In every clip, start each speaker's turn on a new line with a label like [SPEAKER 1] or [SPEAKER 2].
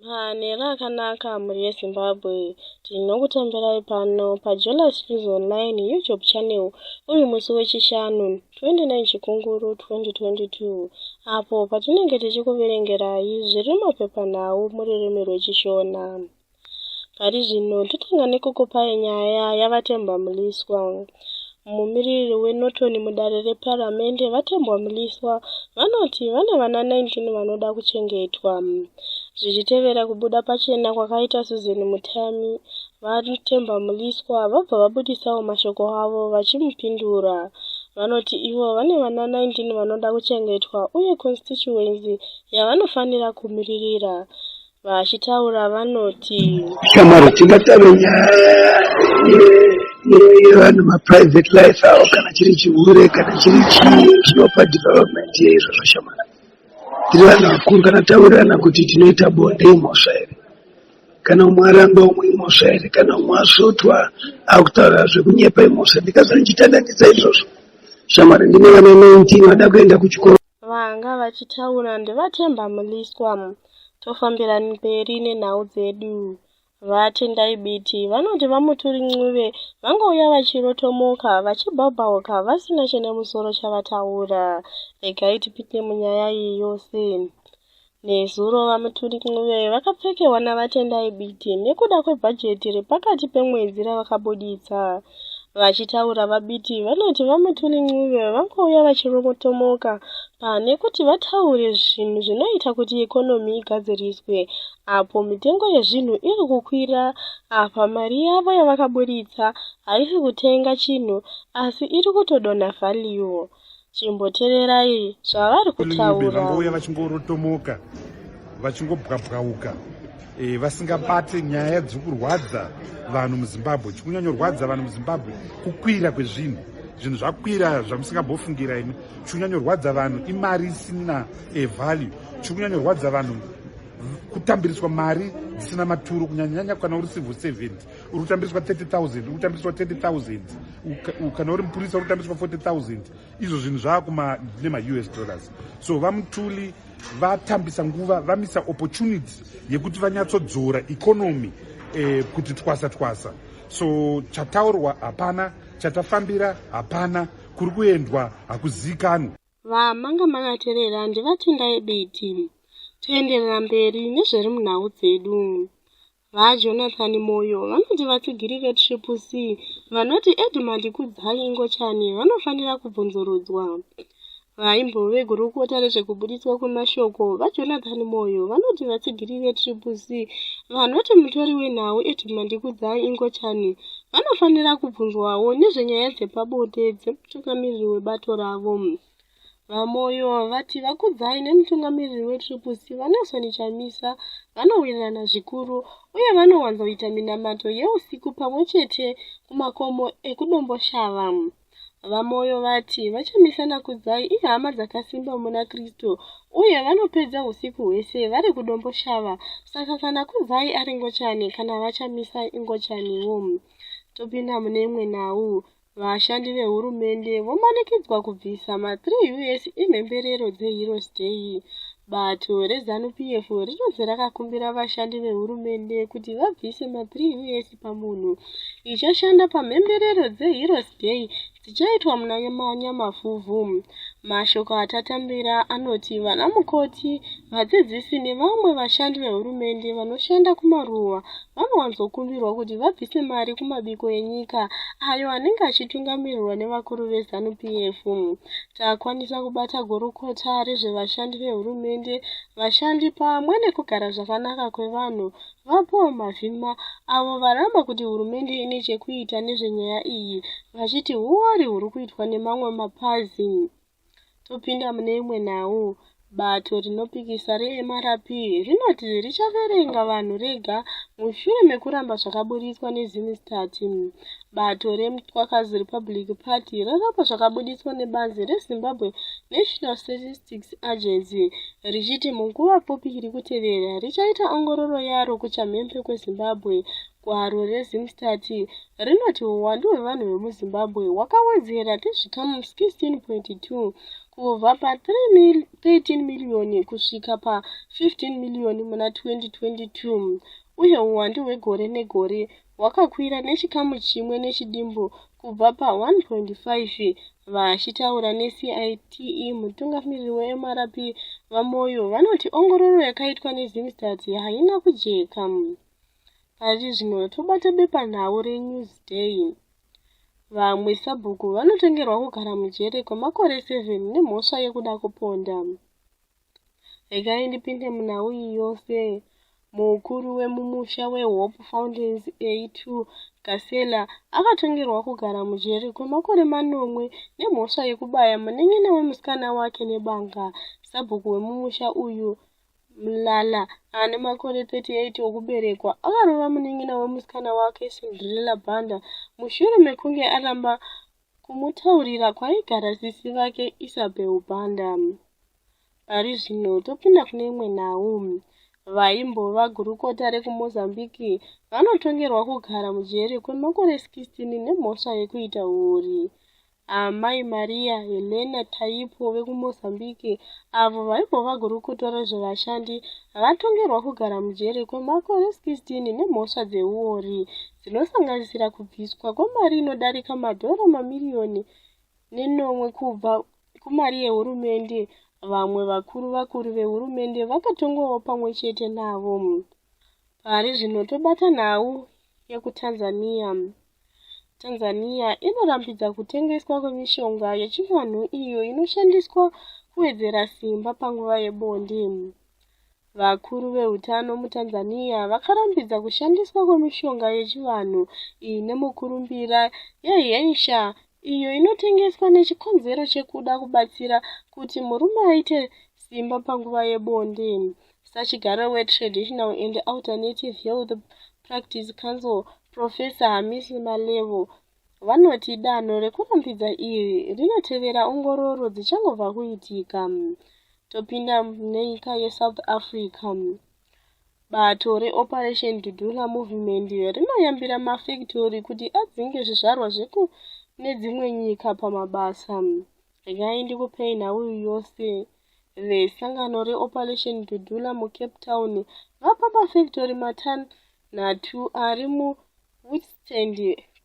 [SPEAKER 1] Manheru akanaka mhuri yeZimbabwe. Tinokutambirai pano paJolas News Online YouTube channel uri musi weChishanu 29 Chikunguru 2022 apo patinenge tichikuverengerai zviri mumapepanhau mururimi rweChishona. Pari zvino totanga nekukupa nyaya yaVaTemba Mliswa. Mumiriri weNorton mudare reparamende, VaTembwa Mliswa, vanoti vane vana 19 vanoda kuchengetwa. Zvichitevera kubuda pachena kwakaita Susan Mutami, VaTemba Mliswa vabva vabudisawo mashoko avo vachimupindura. Vanoti ivo vane vana 19 vanoda kuchengetwa uye constituency yavanofanira kumiririra Vachitaura vanoti shamwari tingatave
[SPEAKER 2] yevanhu maprivate life avo kana chiri chihure kana chiri chii chinopa development yeizvozvo shamwari tiri vanhu vakuru kana taurirana kuti tinoita bonde imhosva here kana umwe aramba umwe imhosva here kana umwe asvotwa akutaura zvekunyepa imhosva ndikazanichitandandisa izvozvo shamwari ndine vana 19 vada kuenda kuchikoro vanga
[SPEAKER 1] vachitaura ndivatemba muliswa tofambira mberi nenhau dzedu vatendai biti vanoti vamuturi ncube vangouya vachirotomoka vachibhabhauka vasina chine musoro chavataura regai tipinde munyaya iyi yose Nezuro VaMutulik Ncube vakapfekerwa naVaTendai Biti nekuda kwebhajeti repakati pemwedzi ravakabuditsa. Vachitaura VaBiti vanoti VaMutulik Ncube vangouya vachiromotomoka pane kuti vataure zvinhu zvinoita kuti ikonomi igadziriswe apo mitengo yezvinhu iri kukwira apa mari yavo yavakabuditsa haisi kutenga chinhu asi iri kutodonha value. chimbotererai zvavari kutaura vangouya vachingorotomoka
[SPEAKER 3] vachingobwabwauka e, vasingabate nyaya dziri kurwadza vanhu muzimbabwe chikunyanyorwadza vanhu muzimbabwe kukwira kwezvinhu zvinhu zvakwira zvamusingambofungira imi chikunyanyorwadza vanhu imari isina e, value chikunyanyorwadza vanhu kutambiriswa mari dzisina maturo kunyanyanyanya kana uri civil servant uri kutambiswa 30000 uri kutambiswa 30000 kana uri mupurisa uri kutambiswa 40000 izvo zvinhu zvava nemaus dollars so vamutuli vatambisa nguva vamisa opportunity yekuti vanyatsodzora economy eh, kuti twasa twasa so chataurwa hapana chatafambira hapana kuri kuendwa hakuziikanwe vamanga
[SPEAKER 1] makaterera ndivatendai biti toenderera mberi nezviri munhau dzedu VaJonathan Moyo vanoti vatsigiri veTriple C vanoti Edmund Kudzai Ingochani vanofanira kubvunzurudzwa. Vaimbove gurukota rezvekubuditswa kwemashoko, VaJonathan Moyo vanoti vatsigiri veTriple C vanoti mutori wenhau Edmund Kudzai Ingochani vanofanira kubvunzwawo nezvenyaya dzepabonde dzemutungamiriri webato ravo. VaMoyo vati VaKudzai nemutungamiriri weTriple C VaNelson Chamisa vanowirirana zvikuru uye vanowanzoita minamato yeusiku pamwe chete kumakomo ekuDomboshava. VaMoyo vati VaChamisa naKudzai ihama dzakasimba muna Kristu uye vanopedza usiku hwese vari kuDomboshava saka kana Kudzai ari ngochani kana VaChamisa ingochaniwo. Topinda mune imwe nhau. Vashandi vehurumende vomanikidzwa kubvisa ma 3 us emhemberero dzeHeroes Day. Bato reZanu PF rinonzi rakakumbira vashandi vehurumende kuti vabvise ma 3 us pamunhu ichashanda pamhemberero dzeHeroes Day dzichaitwa muna Nyamafuvhu. Mashoko atatambira anoti vanamukoti, vadzidzisi nevamwe vashandi vehurumende vanoshanda kumaruwa vanowanzokumbirwa kuti vabvise mari kumabiko enyika ayo anenge achitungamirirwa nevakuru vezanu p f takwanisa kubata gurukota rezvevashandi vehurumende vashandi pamwe nekugara zvakanaka kwevanhu vapaul mavhima avo varamba kuti hurumende ine chekuita nezvenyaya iyi vachiti huwari huri kuitwa nemamwe mapazi topinda mune imwe nhau bato rinopikisa reMRP rinoti richaverenga vanhu rega mushure mekuramba zvakaburitswa neZimstat. Bato reMtwakazi Republic Party raramba zvakabuditswa nebazi reZimbabwe National Statistics Agency richiti munguva pfupi iri kutevera richaita ongororo yaro kuchamhembe kweZimbabwe Gwaro reZimstat rinoti huwandu hwevanhu vemuZimbabwe hwakawedzera nezvikamu 16.2 kubva pa13 miriyoni kusvika pa15 miriyoni muna 2022 uye huwandu hwegore negore hwakakwira nechikamu chimwe nechidimbu kubva pa1.5 vachitaura necite mutungamiriri wemrp vamoyo vanoti ongororo yakaitwa nezimstat haina kujeka Pachizvino tobata bepanhau reNewsday. Vamwe sabhuku vanotengerwa kugara mujere kwemakore 7 nemhosva yekuda kuponda. Regai ndipinde munhau iyi yose. Mukuru wemumusha weHope Fountains A2 Gasela akatongerwa kugara mujere kwemakore manomwe nemhosva yekubaya munin'ina wemusikana wake nebanga. Sabhuku wemumusha uyu Mlala ane makore 38 okuberekwa akarova munin'ina wemusikana wake Cinderella Banda mushure mekunge aramba kumutaurira kwaigara sisi vake Isabel Banda. Pari zvino topinda kune imwe nhau. Vaimbova gurukota rekuMozambique vanotongerwa kugara mujeri kwemakore 16 nemhosva yekuita huori. Amai Maria Helena Taipo vekuMozambique, avo vaimbova gurukota rezvevashandi, vatongerwa kugara mujeri kwemakore 16 nemhosva dzeuori dzinosanganisira kubviswa kwemari inodarika madhora mamiriyoni nenomwe kubva kumari yehurumende. Vamwe vakuru vakuru vehurumende vakatongwawo pamwe chete navo. Pari zvino tobata nhau yekuTanzania. Tanzania inorambidza kutengeswa kwemishonga yechivanhu iyo inoshandiswa kuwedzera simba panguva yebonde. Vakuru veutano muTanzania vakarambidza kushandiswa kwemishonga yechivanhu iyi nemukurumbira yeHensha iyo inotengeswa nechikonzero chekuda kubatsira kuti murume aite simba panguva yebonde Sachigaro weTraditional and Alternative Health Practice Council, Professor Hamisi Malevo, vanoti danho rekurumbidza iri rinotevera ongororo dzichangobva kuitika. Topinda munyika yeSouth Africa. Bato reOperation Dudula Movement rinoyambira mafektori kuti adzinge zvizvarwa zveku nedzimwe nyika pamabasa. regai ndikupei nhau yose vesangano reoperation dudula mucape town vapa pafactory matanhatu ari muwithstand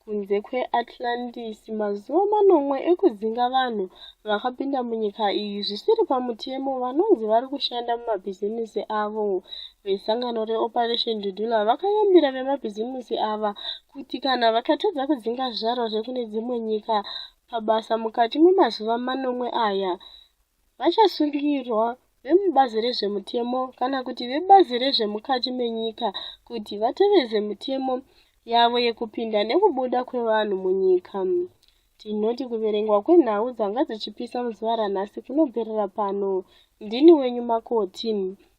[SPEAKER 1] kunze kweatlantis mazuva manomwe ekudzinga vanhu vakapinda munyika iyi zvisiri pamutemo vanonzi vari kushanda mumabhizimusi avo vesangano reoperation dudula vakayambira vemabhizimusi ava kuti kana vakatadza kudzinga zvaro zvekune dzimwe nyika pabasa mukati memazuva manomwe aya vachasungirwa vemubazi rezvemutemo kana kuti vebazi rezvemukati menyika kuti vateveze mutemo yavo yekupinda nekubuda kwevanhu munyika tinoti kuverengwa kwenhau dzanga dzichipisa muzuva ranhasi kunobverera pano ndini wenyu makoti